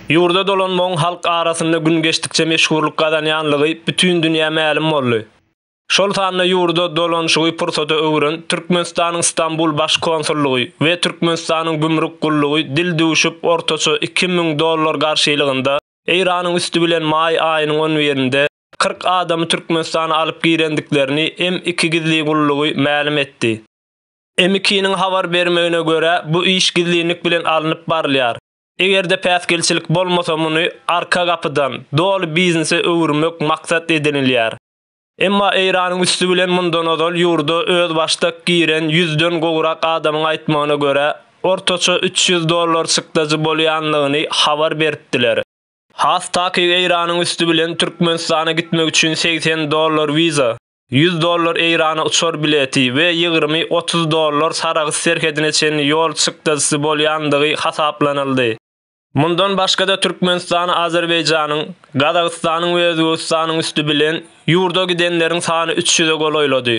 Ýurda dolanmagyň halk arasynda gün geçdikçe meşhurlyk gazanýanlygy bütin dünýä mälim boldy. Şol sanda ýurda dolanyşygy pursata öwren Türkmenistanyň Stambul Baş konsullygy we Türkmenistanyň Gümrük gullugy dil düwşüp ortaça iki müň dollar garşylygynda Eýranyň üsti bilen maý aýynyň on birinde kyrk adamy Türkmenistana alyp girendiklerini M-iki gizli gullugy mälim etdi. M-ikiniň habar bermegine görä, bu iş gizlinlik bilen alnyp barylýar. Eger-de päsgelçilik bolmasa muny arka gapydan, doly biznese öwürmek maksat edinilýär. Emma Eýranyň üsti bilen mundan ozal ýurda özbaşdak giren ýüzden gowrak adamyň aýtmagyna görä, ortaça üç ýüz dollar çykdajy bolýanlygyny habar beripdiler. Has takyk Eýranyň üsti bilen Türkmenistana gitmek üçin segsen dollar wiza, ýüz dollar Eýrana uçar bileti we ýygrymy otuz dollar Sarahs serhedine çenli ýol çykdajysy bolýandygy hasaplanyldy. Mundan başga-da Türkmenistan Azerbaýjanyň, Gazagystanyň we Özbegistanyň üsti bilen ýurda gidenleriň sany üç ýüze golaýlady.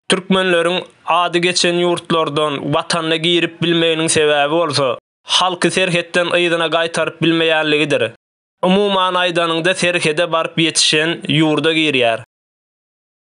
Türkmenleriň ady geçen ýurtlardan watanyna girip bilmeginiň sebäbi bolsa, halky serhetden yzyna gaýtaryp bilmeýänligidir. Umuman aýdanyňda serhede baryp ýetişen ýurda girýär.